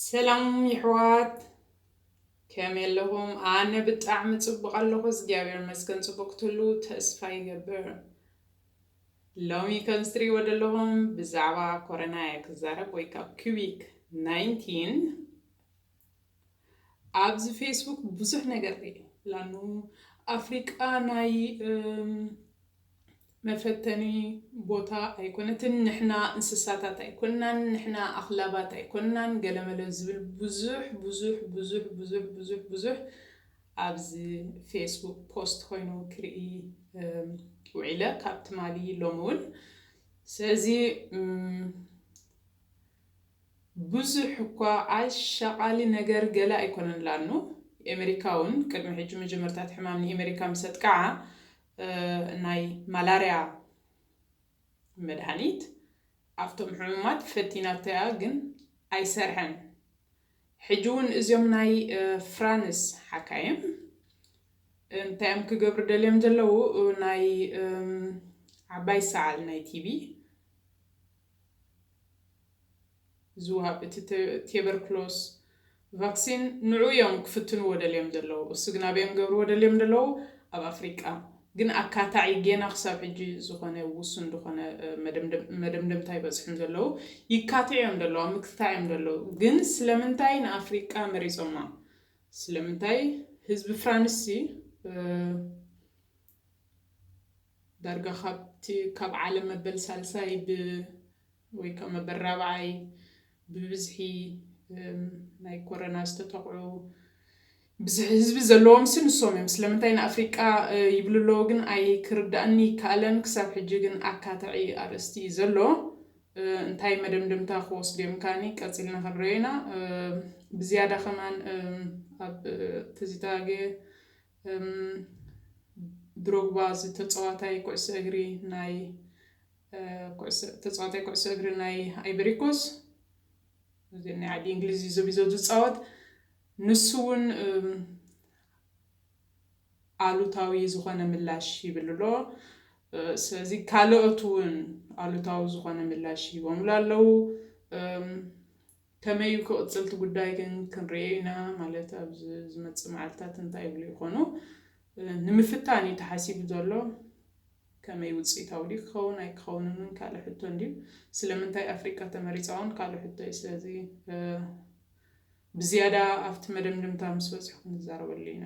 ሰላም ይሕዋት ከመይ ኣለኹም? ኣነ ብጣዕሚ ጽቡቕ ኣለኹ እግዚኣብሔር ይመስገን። ጽቡቕ ክትህሉ ተስፋ ይገብር። ሎሚ ከም ዝትሪእዎ ዘለኹም ብዛዕባ ኮረና እየ ክዛረብ ወይ ካብ ኪቢክ 19 ኣብዚ ፌስቡክ ብዙሕ ነገር ሪኤ ላኑ ኣፍሪቃ ናይ መፈተኒ ቦታ ኣይኮነትን ንሕና እንስሳታት ኣይኮናን ንሕና ኣኽላባት ኣይኮናን ገለመለ ዝብል ብዙሕ ብዙሕ ብዙሕ ብዙሕ ብዙሕ ብዙሕ ኣብዚ ፌስቡክ ፖስት ኮይኑ ክርኢ ውዒለ ካብ ትማሊ ሎሚ እውን ስለዚ ብዙሕ እኳ ኣሻቓሊ ነገር ገለ ኣይኮነን ላኑ ኤመሪካ ውን ቅድሚ ሕጂ መጀመርታ እቲ ሕማም ንኤመሪካ ምስ ኣጥቅዓ ናይ ማላርያ መድሃኒት ኣብቶም ሕሙማት ፈቲናቶ'ያ ግን ኣይሰርሐን ሕጂ ውን እዚም ናይ ፍራንስ ሓካይም እንታይ'ዮም ክገብሩ ደልዮም ዘለዉ ናይ ዓባይ ሰዓል ናይ ቲቢ ዝወሃብ እቲ ቴበርክሎስ ቫክሲን ንዑ እዮም ክፍትንዎ ደልዮም ዘለዉ እሱ ግን ኣበዮም ክገብርዎ ደልዮም ደለዉ ኣብ ኣፍሪቃ ግን ኣካታዒ ጌና ክሳብ ሕጂ ዝኾነ ውሱን ድኾነ መደምደምታ ኣይበጽሑን ዘለዉ ይካትዑ እዮም ደለዉ ኣብ ምክትታዕ እዮም ደለዉ ግን ስለምንታይ ንኣፍሪቃ መሪጾማ ስለምንታይ ህዝቢ ፍራንስሲ ዳርጋ ካብቲ ካብ ዓለም መበል ሳልሳይ ብ ወይ ከኣ መበል ራብዓይ ብብዝሒ ናይ ኮረና ዝተጠቕዑ ብዝሒ ህዝቢ ዘለዎምሲ ንሶም እዮም። ስለምንታይ ንኣፍሪቃ ይብሉ ኣለዉ ግን ኣይክርድኣኒ ኣይከኣለን። ክሳብ ሕጂ ግን ኣካታዒ ኣርእስቲ እዩ ዘሎ። እንታይ መደምደምታ ክወስዱ እዮም ከኣኒ ቀጺልና ክንርእዮ ኢና። ብዝያዳ ከማን ኣብ ትዝታ እም ድሮግባ እዚ ተጸዋታይ ኩዕሶ እግሪ ናይ ኩዕሶ ተጸዋታይ ኩዕሶ እግሪ ናይ ኣይቨሪኮስ እዚ ናይ ዓዲ እንግሊዝ እዩ ዘቢዞ ዝጻወት ንሱ እውን ኣሉታዊ ዝኾነ ምላሽ ይብል ኣሎ ስለዚ ካልኦት እውን ኣሉታዊ ዝኾነ ምላሽ ሂቦምሉ ኣለዉ። ከመይ እዩ ክቕጽል እቲ ጉዳይ ግን ክንርእዮ ኢና፣ ማለት ኣብ ዝመጽእ መዓልትታት እንታይ ይብሉ ይኾኑ ንምፍታን እዩ ተሓሲቡ ዘሎ። ከመይ ውጽኢታዊ ድዩ ክኸውን ኣይክኸውንን እውን ካልእ ሕቶ እንድዩ። ስለምንታይ ኣፍሪቃ ተመሪጻ እውን ካልእ ሕቶ እዩ። ስለዚ ብዝያዳ ኣብቲ መደምደምታ ምስ በጽሑ ክንዛረበሉ ኢና።